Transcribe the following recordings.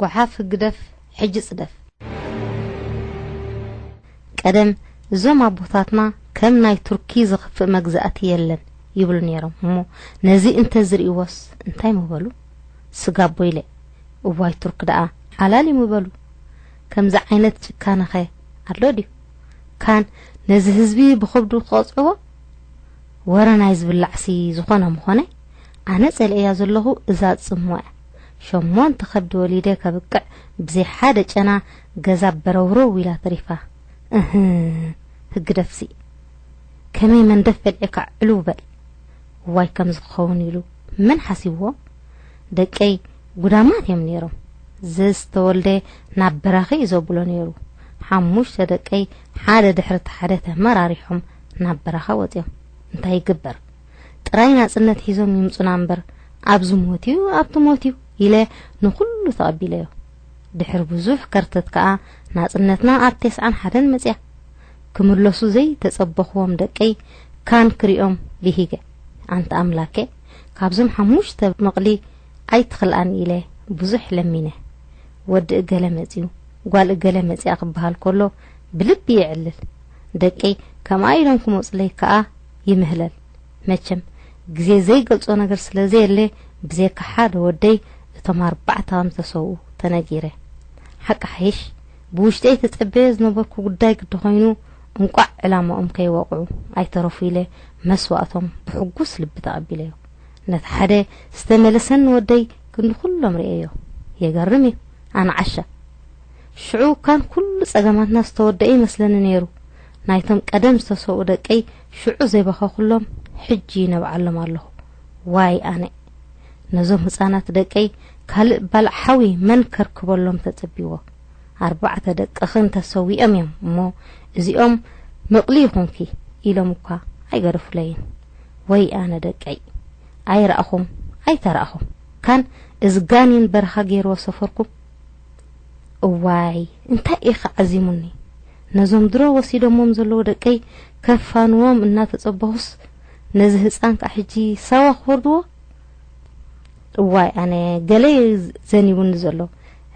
ጓሓፍ ህግደፍ ሕጂ ጽደፍ። ቀደም እዞም ኣቦታትና ከም ናይ ቱርኪ ዝኽፍእ መግዛእቲ የለን ይብሉ ነይሮም እሞ ነዚ እንተዝርእይዎስ እንታይ ምበሉ ስጋ ቦይለ እዋይ ቱርክ ደኣ ሓላል እዩ ምበሉ ከምዚ ዓይነት ጭካነኸ ኣሎ ድዩ ካን ነዚ ህዝቢ ብኸብዱ ክቐጽዕዎ ወረ ናይ ዝብላዕሲ ዝኾነ ምኾነ ኣነ ጸሊኤያ ዘለኹ እዛ ጽሙዕ። ሸሞንተ ከብዲ ወሊደ ከብቅዕ ብዘይ ሓደ ጨና ገዛ በረውረው ኢላ ተሪፋ። እህ ህግደፍሲ ከመይ መንደፍ በልዒካ ዕልው በል። እዋይ ከምዚ ክኸውን ኢሉ መን ሓሲብዎ? ደቀይ ጉዳማት እዮም ነይሮም። ዘዝተወልደ ናብ በራኺ እዩ ዘብሎ ነይሩ። ሓሙሽተ ደቀይ ሓደ ድሕሪ እቲ ሓደ ተመራሪሖም ናብ በረኻ ወጺኦም። እንታይ ይግበር? ጥራይ ናጽነት ሒዞም ይምጹና እምበር ኣብዚ ሞትዩ ኣብቲ ሞትዩ ኢለ ንኹሉ ተቐቢለዮ። ድሕሪ ብዙሕ ከርተት ከኣ ናጽነትና ኣብ ቴስዓን ሓደን መጽያ። ክምለሱ ዘይተጸበኹዎም ደቀይ ካን ክሪኦም ብሂገ። ኣንታ ኣምላኬ ካብዞም ሓሙሽተ መቕሊ ኣይትኽልኣኒ ኢለ ብዙሕ ለሚነ። ወዲ እገለ መጽዩ፣ ጓል እገለ መጽያ ክበሃል ከሎ ብልቢ የዕልል። ደቀይ ከምኣ ኢሎም ክመጹለይ ከኣ ይምህለል መቸም ግዜ ዘይገልጾ ነገር ስለ ዘየለ ብዘየካ ሓደ ወደይ እቶም ኣርባዕተ ከም ዝተሰውኡ ተነጊረ ሓቂ ሓይሽ ብውሽጠይ ተጸበዮ ዝነበርኩ ጉዳይ ግዲ ኮይኑ እንቋዕ ዕላማኦም ከይወቕዑ ኣይተረፉ ኢለ መስዋእቶም ብሕጉስ ልቢ ተቐቢለዮ ነቲ ሓደ ዝተመለሰኒ ወደይ ክንዲ ኩሎም ርእየዮ የገርም እዩ ኣንዓሻ ሽዑ ካን ኩሉ ጸገማትና ዝተወደአ ይመስለኒ ነይሩ ናይቶም ቀደም ዝተሰውኡ ደቀይ ሽዑ ዘይበኸኹሎም ሕጂ ይነብዓሎም ኣለኹ ዋይ ኣነ ነዞም ህጻናት ደቀይ ካልእ ባልዕ ሓዊ መን ከርክበሎም ተጽቢዎ ኣርባዕተ ደቅኽን ተሰዊኦም እዮም እሞ እዚኦም ምቕሊ ይኹንኪ ኢሎም እኳ ኣይገደፉለይን ወይ ኣነ ደቀይ ኣይራእኹም ኣይተራእኹም ካን እዚ ጋኒን በረኻ ገይርዎ ሰፈርኩም እዋይ እንታይ እየ ከ ዓዚሙኒ ነዞም ድሮ ወሲዶሞም ዘለዉ ደቀይ ከፋንዎም እናተጸበኹስ ነዚ ህጻን ከ ሕጂ ሳዋ ክወርድዎ እዋይ ኣነ ገለ ዘኒቡኒ ዘሎ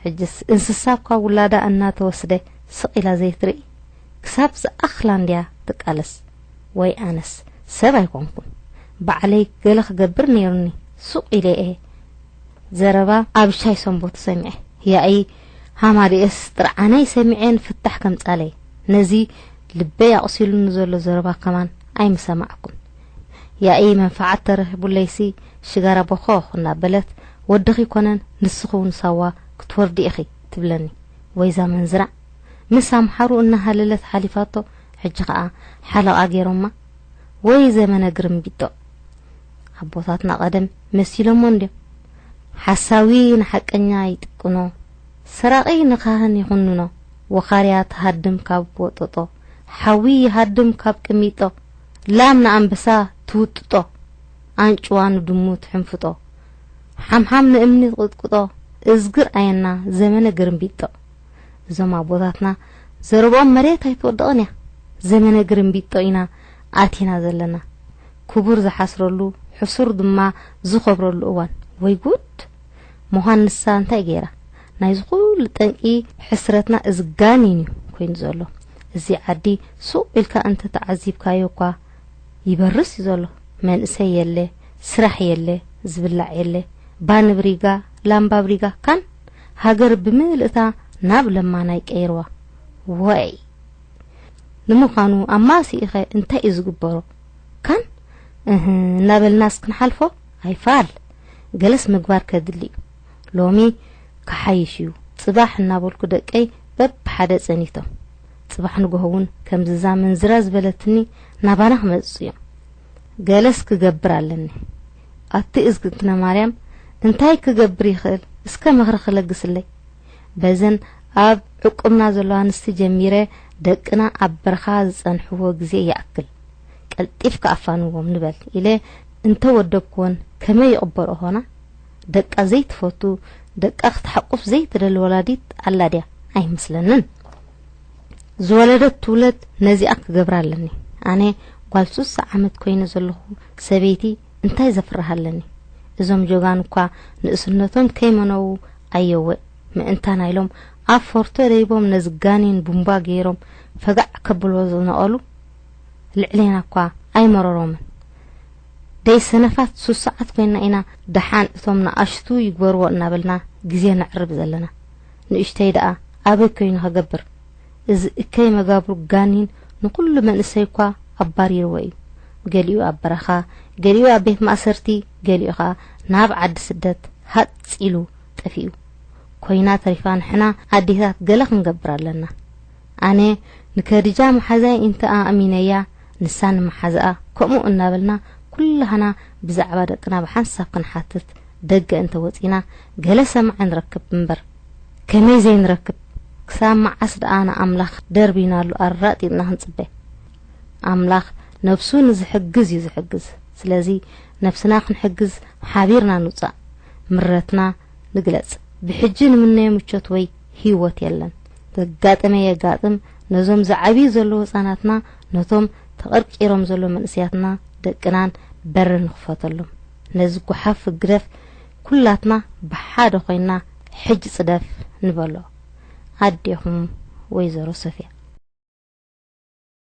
ሕጅስ እንስሳ እኳ ውላዳ እናተወስደ ስቕ ኢላ ዘይትርኢ ክሳብ ዝኣኽላ እንድያ ትቃለስ ወይ ኣነስ ሰብ ኣይኮንኩን ባዕለይ ገለ ክገብር ነይሩኒ ሱቕ ኢለ እየ ዘረባ ኣብሻይ ሰንቦት ሰሚዐ ያኢ ሃማደኤስ ጥርዓናይ ሰሚዐ ንፍታሕ ከምጻለይ ነዚ ልበይ ኣቑሲሉኒ ዘሎ ዘረባ ከማን ኣይምሰማዕኩን ያኢ መንፈዓት ተረኺቡለይሲ ሽጋራ ቦኾኽ እናበለት ወድኺ ኮነን ንስኺ እውን ሳዋ ክትወርዲ ኢኺ ትብለኒ ወይዛ መንዝራ ምስ ኣምሓሩ እናሃለለት ሓሊፋቶ ሕጂ ኸኣ ሓለቓ ገይሮማ ወይ ዘመነ ግርምቢጦ ኣቦታትና ቀደም መሲሎሞ እንድዮም ሓሳዊ ንሓቀኛ ይጥቅኖ ሰራቂ ንካህን ይኹንኖ ወኻርያ ትሃድም ካብ ወጦጦ ሓዊ ይሃድም ካብ ቅሚጦ ላም ንኣንበሳ ትውጥጦ ኣንጭዋ ንድሙ ትሕንፍጦ ሓምሓም ንእምኒ ትቕጥቅጦ እዝግር ኣየና ዘመነ ግርምቢጦ እዞም ኣቦታትና ዘረብኦም መሬት ኣይትወድቕን እያ ዘመነ ግርምቢጦ ኢና ኣቲና ዘለና ክቡር ዝሓስረሉ ሕሱር ድማ ዝኸብረሉ እዋን ወይ ጉድ ሞሃንሳ እንታይ ገይራ ናይዚ ኩሉ ጠንቂ ሕስረትና እዚ ጋኒን እዩ ኮይኑ ዘሎ እዚ ዓዲ ሱቅ ኢልካ እንተ ተዓዚብካዮ እኳ ይበርስ እዩ ዘሎ መንእሰይ የለ ስራሕ የለ ዝብላዕ የለ ባንብሪጋ ላምባብሪጋ ካን ሃገር ብምልእታ ናብ ለማናይ ቀይርዋ ወይ ንምዃኑ ኣብ ማሲኢኸ እንታይ እዩ ዝግበሮ ካን እህ እናበልናስ ክንሓልፎ ኣይፋል ገለስ ምግባር ከድሊ እዩ ሎሚ ክሓይሽ እዩ ጽባሕ እናበልኩ ደቀይ በብሓደ ጸኒቶም ጽባሕ ንጎሆ እውን ከምዝዛ ምንዝራ ዝበለትኒ ናባና ክመጽጹ እዮም ገለስ ክገብር ኣለኒ ኣቲ እዝግትነ ማርያም እንታይ ክገብር ይኽእል እስከ ምኽሪ ክለግስለይ በዘን ኣብ ዕቁብና ዘሎ ኣንስቲ ጀሚረ ደቅና ኣብ በርኻ ዝጸንሕዎ ግዜ ይኣክል ቀልጢፍካ ኣፋንዎም ንበል ኢለ እንተ ወደብክወን ከመይ ይቕበልኦ ኾና? ደቃ ዘይትፈቱ ደቃ ክትሓቁፍ ዘይትደሊ ወላዲት ኣላ ድያ? ኣይመስለንን። ዝወለደት ትውለድ ነዚኣ ክገብራ ኣለኒ ኣነ ጓል ሱሳ ዓመት ኮይነ ዘለኹ ሰበይቲ እንታይ ዘፍርህ ኣለኒ እዞም ጆጋኑ እኳ ንእስነቶም ከይመነዉ ኣየወ ምእንታና ኢሎም ኣብ ፎርቶ ደይቦም ነዚ ጋኒን ቡምባ ገይሮም ፈጋዕ ከብልዎ ዝነቐሉ ልዕሌና እኳ ኣይመረሮምን ደይ ሰነፋት ሱስዓት ኮይና ኢና ደሓን እቶም ንኣሽቱ ይግበርዎ እናበልና ግዜ ነዕርብ ዘለና ንእሽተይ ደኣ ኣበይ ኮይኑ ከገብር እዚ እከይ መጋብሩ ጋኒን ንኹሉ መንእሰይ'ኳ ኣባሪርዎ እዩ። ገሊኡ ኣብ በረኻ፣ ገሊኡ ኣብ ቤት ማእሰርቲ፣ ገሊኡ ከኣ ናብ ዓዲ ስደት ሃጽ ኢሉ ጠፊኡ። ኮይና ተሪፋ ንሕና ኣዴታት ገለ ክንገብር ኣለና። ኣነ ንከድጃ መሓዛይ እንተ ኣእሚነያ ንሳ ንመሓዝኣ ከምኡ እናበልና ኩላህና ብዛዕባ ደቅና ብሓንሳብ ክንሓትት ደገ እንተ ወጺና ገለ ሰማዒ ንረክብ እምበር። ከመይ ዘይንረክብ ክሳብ መዓስ ደኣ ንኣምላኽ ደርቢናሉ ኣራጢጥና ክንጽበ ኣምላኽ ነብሱ ንዝሕግዝ እዩ ዝሕግዝ ስለዚ ነብስና ክንሕግዝ ሓቢርና ንውጻእ ምረትና ንግለጽ ብሕጂ ንምነዮ ምቾት ወይ ህይወት የለን ዘጋጠመ የጋጥም ነዞም ዝዓብዩ ዘለዉ ህጻናትና ነቶም ተቐርቂሮም ዘሎ መንእስያትና ደቅናን በሪ ንኽፈተሎም ነዚ ጓሓፍ ህግደፍ ኩላትና ብሓደ ኮይና ሕጅ ጽደፍ ንበሎ ኣዴኹም ወይዘሮ ሶፍያ።